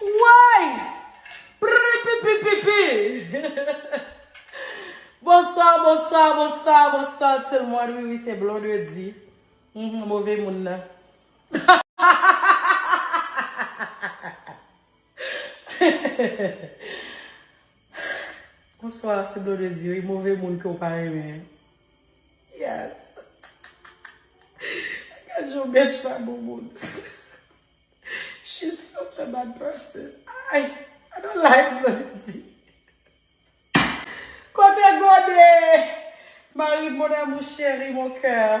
Woy! Pripipipipippi! Bonswa, bonswa, bonswa, bonswa tout le monde. Wi, wi, se Blondedy. Mwen move moun nan. Bonswa, se Blondedy. Wi, move moun ke ou pa renmen. Yes. Gad jan ou bench pa bon moun. She's such a bad person ayy I don't like Blandy Kote gode Mari m mon amour cheri mon coeur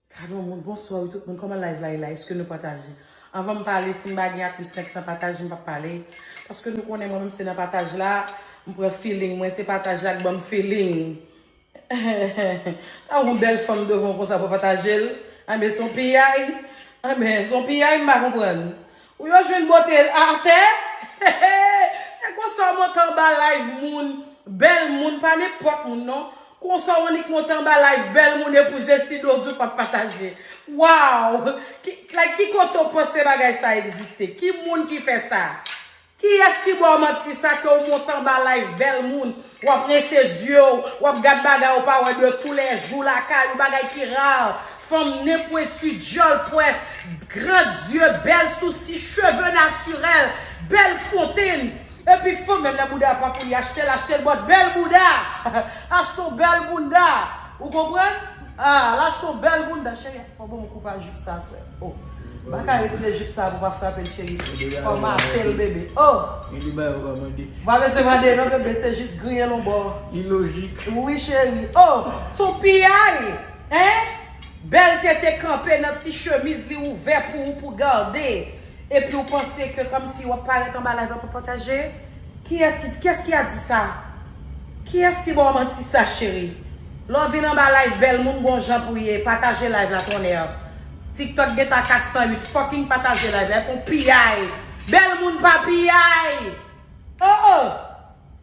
Gadon moun bonswa wi tout moun koman live la ye la eske nou pataje anvanm pale sim pa gen aplis 500 pataj mpap pale paske nou konnen mwen menm se nan pataj la mpran feeling mwen se pataj la k banm feeling èèè Mwen pa konprann Ou yo jwenn bote atè se konsa w monte anba live moun bèl moun pa nenpòt moun non konsa w annik monte anba live bèl moun epou Jesi do w di w pap pataje waww like ki kote w panse bagay sa egziste ki moun ki fè sa kiyès ki ba w manti sa ke w monte anba live bèl moun Wap rinse zye w, wap gad bagay ou pa wè de tou lè jou lakay ou bagay ki rare, fanm nen pwentu, dyòl pwès, grand zye, bèl sousi, cheve natirèl, bèl fontenn, epi fanm menm lè bouda a pa pou li achte l achte l but bèl bouda, achte w bèl bounda, ou konprann? Ah, l achte w bèl bounda cheri. Fò banm koupa jup sa swè oh. Baka retire jup sa pou pa frapel cheri fòmatel bebe oh. Gen de bagay ou pa mande. Ou pa bezwen mande non bebe se jis griyel on bò. Li lojik. Wi cheri oh son piyay hein bèl tete kanpe nan ti chemiz li ouvè pou ou pou garde. Epiw panse ke komsi wap parèt anba live la pou pataje? Kiyès ki kiyès ki a di sa? Kiyès ki baw manti sa cheri? Lè w vin anba live bèl moun gon jan pou ye pataje live la tonnerr. Tiktok gen ta 408 fucking pataje live la epon piyay bèl moun pa piyay! Oh oh!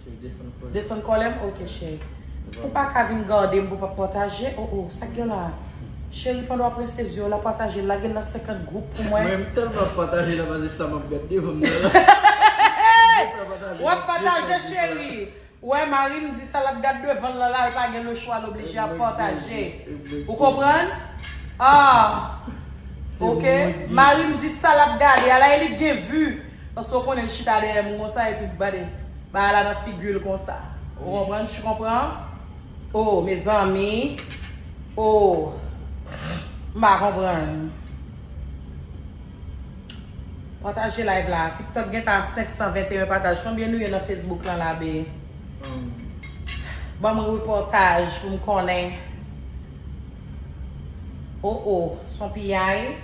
Se desann kòlèm. Desann kòlèm ok cheri. Ou pa ka vin gadem pou pa pataje oh oh sak gen la. Cheri pandan wap rinse zye w la pataje lagel nan 50 group pou mwen. Mwen telman pataje la pase sa map gad devanm nan la. Wap pataje cheri. Wè marim di sa lap gad devanl lan la li pa gen le chwa l oblije ap pataje. Ou konprann? Ahh ok marim di sa lap gade a la e li k gen vu. Paske w konnen l chita dèyè m konsa epi l bade bagay la nan figi l konsa. Ou konprann? Tu comprends? Oh mezanmi oh m pa konprann. Pataje live la Tiktok gen tan a 521 pataj konbyen nou ye nan Facebook lan la bee Banm reportage pou m konnen. Oh oh son piyay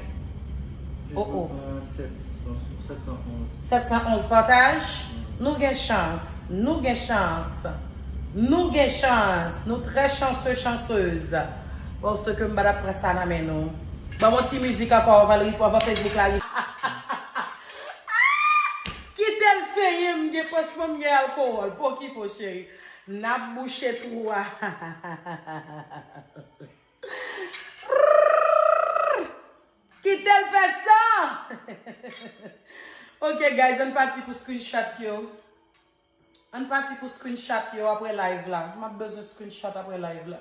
oh oh. Gen tout tan 711. 711 pataj Nou gen chans Nou gen chans Nou gen chans Nou trè chanseu chanseuse Paske m pa tap pran sa nan men nou Ban m yon ti mizik ankò anvan li anvan Facebook la rive Kitel senyen m gen pansman m gen alcohol Pokipo cheri. Nap bouche trou a hahahahahahahahahahahahaha kitel fè tan ok guys ann pati pou screenshot yo ann pati pou screenshot yo aprè live la map bezwen screenshot aprè live la.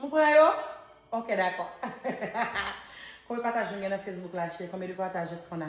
Mwen pran yo? Ok, dako. Kome pataj nou gen nan Facebook la, cheri? Kome de patajes kona?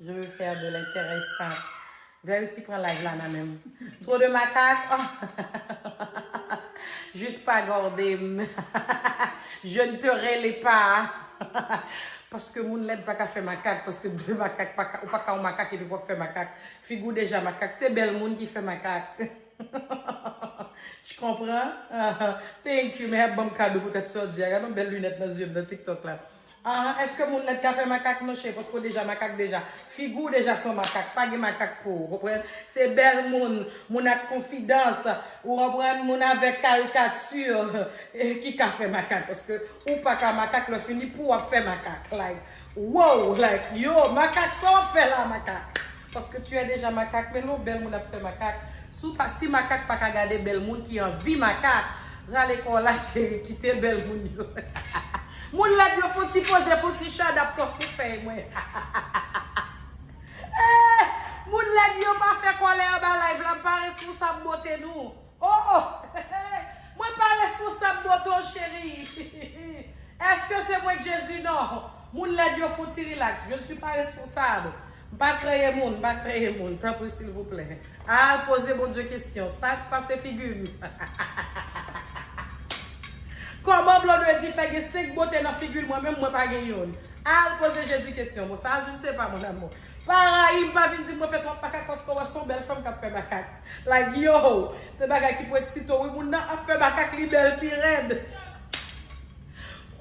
Je veux faire de l'intéressant. Verity pran live la nan menm. Trop de makak. Juste pa gorde m. Je ne te rele pa. Paske moun lèd pa ka fè makak. Paske de makak pa ka. Ou pa ka yon makak epi wap fè makak. Figi w deja makak. Se bèl moun ki fè makak. T konpran? Thank you. Mehek banm kado pou tèt sa w di a. Gade yon bèl lunèt nan zye m nan TikTok la. Aah eske moun nan t ka fè makak monche paske w deja makak deja figi w deja son makak pa gen makak pou ou konprann se bèl moun moun ak konfidans ou konprann moun avèk karikati ki ka fè makak paske ou pa ka makak lè fini pouw ap fè makak like woww like yooh makak sa w ap fè la makak. Paske tu es deja makak men lon bel moun ap fe makak si w pa si makak paka gade bel moun ki anvi makak rale kò w la cheri kite bel moun yo hahaha moun led yo fon ti poze fon ti chadap tankou fey mwen hahahaa eeh moun led yo pa fe kòlè anba live la m pa responsab bote nou. Oh oh hehe mwen pa responsab non ton cherie eske se mwen k jezi non moun lèd yo fouti relax je ne suis pas responsable m pa kreye moun m pa kreye moun tanpri silvouplè al poze Bondye kesyon sak pase figi m hahahahahaha kòman blondedy fè gen 5 bote nan figil mwen menm mwen pa gen youn al poze jezi kesyon bon sa je ne sais pas mon amour pa rayi m pa vin di m mwen fè twòp makak paske w wè son bèl fanm kap fè makak. Like yow se bagay ki pou eksite w wi moun nan ap fè makak li bèl pi rèd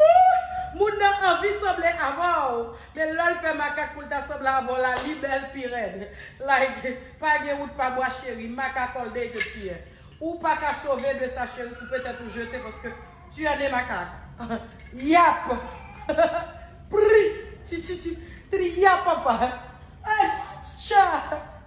ooh moun nan anvi sanble avè w men lè l fè makak pou l ta sanble avè w la li bèl pi rèd like pa gen wout pa bwa cheri makak all day ke tu es ou pa ka sove de sa cheri koupe tèt ou jete paske tu es né makak yap prih chichichi triyapapa eh tcha.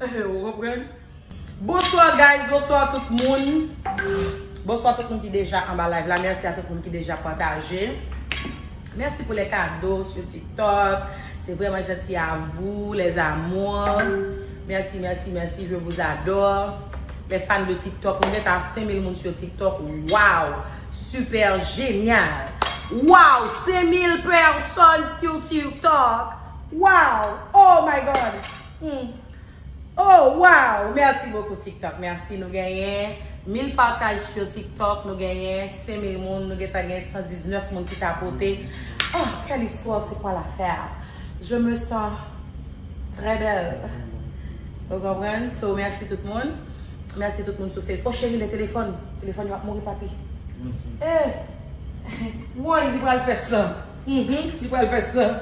Ou konprann? Bonsoir guys, bonsoir tout moun Bonsoir tout moun ki deja anba live la, merci a tout moun ki deja pataje Merci pou les cadeaux sur tiktok C'est vraiment gentil à vous les amours Merci, merci, merci, je vous adore Les fans de tiktok, nou gentan a 5000 moun sur tiktok Waw, super génial Waw, 5000 personnes sur tiktok Waw, oh my God! Humm oh waww merci beaucoup tiktok merci nou genyen mil pataj sur tiktok nou genyen senmil moun nou gentan gen 119 moun ki tapote oh quelle histoire c'est quoi l'affaire je me sens très belle ou konprann so merci tout moun merci tout moun sou face oh chérie le téléphone téléphone yo ap mouri papi eeh woy li pral fè san li pral fè san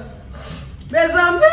mezanmi.